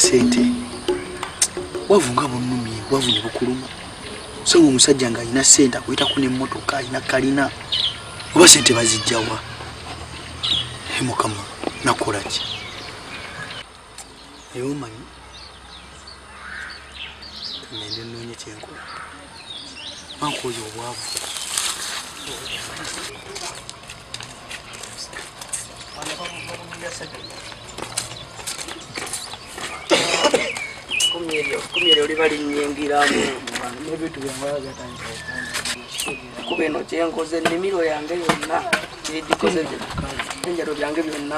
sente wavu nga bunumi wavu ne bukuluma so nga omusajja nga alina sente akuyitako nemotoka alina kalina oba sente bazijjawa mukama nakolaki naye omanyi ngende noonye kyenkola manka oyo obwavu kumyere oli balinyingiramu kuba eno kyenkoze ennimiro yange yonna ebikoze enjalo byange byonna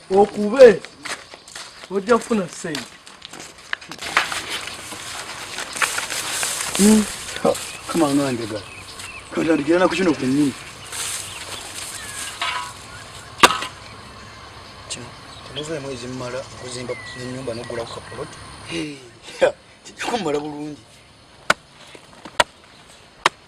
okube ojja kufuna sente hmm. kama onwandega kantandikira naku kino kwenyini temuvuna mwezi mumala okuzimba enyumba nogula ku kapolot kijja kummala bulungi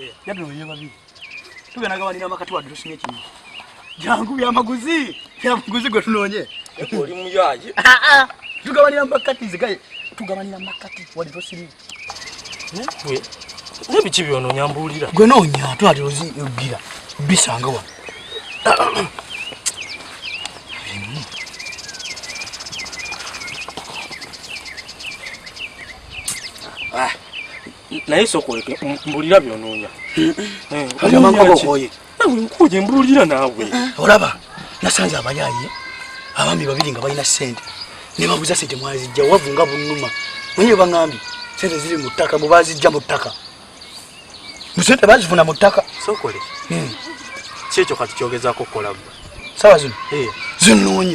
Eh, yadde oyo babi. Tugenda gabanira amakati wadde tusimye kimu. Jangu bya maguzi. Bya maguzi gwe tunoonye. Eko oli muyaji. Ah ah. Tugabanira amakati zigaye. Tugabanira amakati wadde tusimye. Ne? Gwe. Ne bichi byono nyambulira. Gwe nonya twali ozi ogira. Bisanga wa. Ah. naye sokoleke mbulira byonoonya nkuye mbulira naawe olaba nasanze abayaaye abaami babiri nga balina sente nebabuza sente mwazijja wavu nga bunuma naye baŋambye sente ziri mu ttaka mubazijja mu ttaka musente bazifuna mu ttaka sokole hmm. si ekyo kati kyogezako kukola gwe sawa zino eh. zinoonya